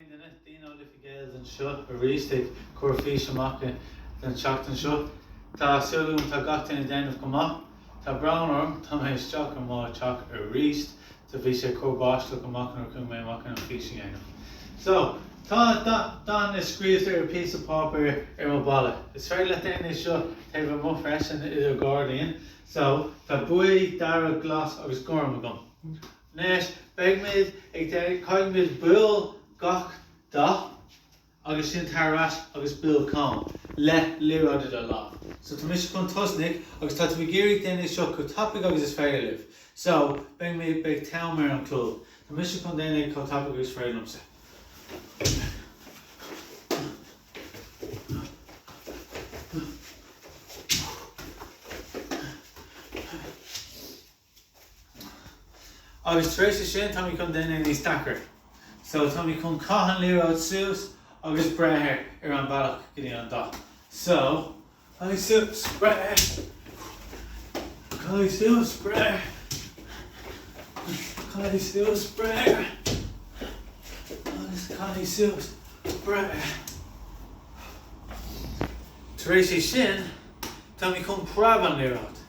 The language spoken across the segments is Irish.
Dean ó Liffey Gaels anseo arís ag cur fís amach don tseachtain seo. Tá súil agam tá gach duine ag déanamh go maith. Tá brón orm, tá mé isteach i mo teach arís so bhí sé ag cur báisteach amach nuair a chuaigh mé amach chun an fís a dhéanamh. So, tá dathanna scríofa ar píosa páipéir ar mo bhalla. Is féidir leat déanamh é seo taobh amuigh freisin i do ghairdín. So, tá buí, dearg, glas agus gorm agam. Anois beidhmid ag déanamh, caithfimid buail gach dath agus sin tar ar ais agus buail cam le liathróid i do lámh. So tá mise chun tosnaigh agus tá tú ag iarraidh déanamh seo chomh tapaidh agus is féidir libh. So beidhmid, beidh t-am ar an clog. Tá mise chun déanamh chomh tapaidh agus is féidir liomsa. Agus tar éis é sin táimid chun déanamh níos deacra. So táimid chun caith an liathróid suas agus breith air ar an bhealach go dtí an dath. So, caith suas, breith, caith suas, breith, caith suas, breith, agus caith suas, breith. Tar éis é sin táimid chun preab an liathróid.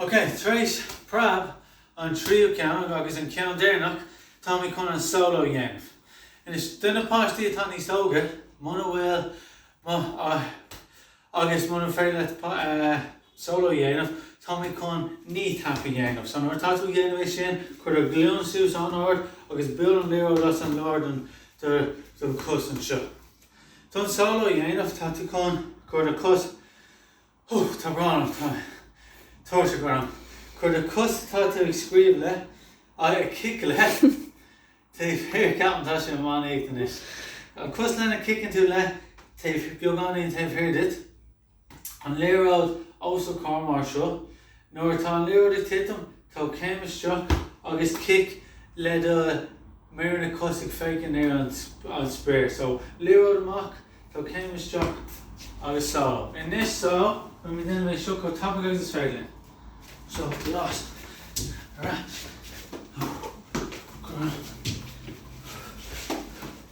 Ok, tar éis preab an tríú ceann agus an ceann deireanach táimid chun an solo dhéanamh. Anois, do na páistí atá níos óige, muna bhfuil agus muna féidir leat solo dhéanamh, táimid chun knee tap a dhéanamh. So nuair atá tú ag dhéanamh é sin, cuir do ghlúin suas an-ard agus buail an liathróid as an lár don chos anseo. Don solo a dhéanamh tá tú chun cuir do cos, tá brón orm, tá tuirse orm. Cuir do cos tá tú ag scríobh le I ag cic le taobh thiar ceapaim tá sé meán oíche anois. An cos lena ciceann tú le taobh thiar beagáinín taobh thiar duit. an liathróid os do comhair mar seo. Nuair atá an liathróid ag titim, tóg céim isteach agus cic le do méaranna cos ag féachaint ar an spéir. So, liathróid amach, tóg céim isteach agus solo. Anois so. Beidh mé ag déanamh é seo chomh tapaidh agus is féidir linn. So, glas. Ar ais. Go raibh maith agat.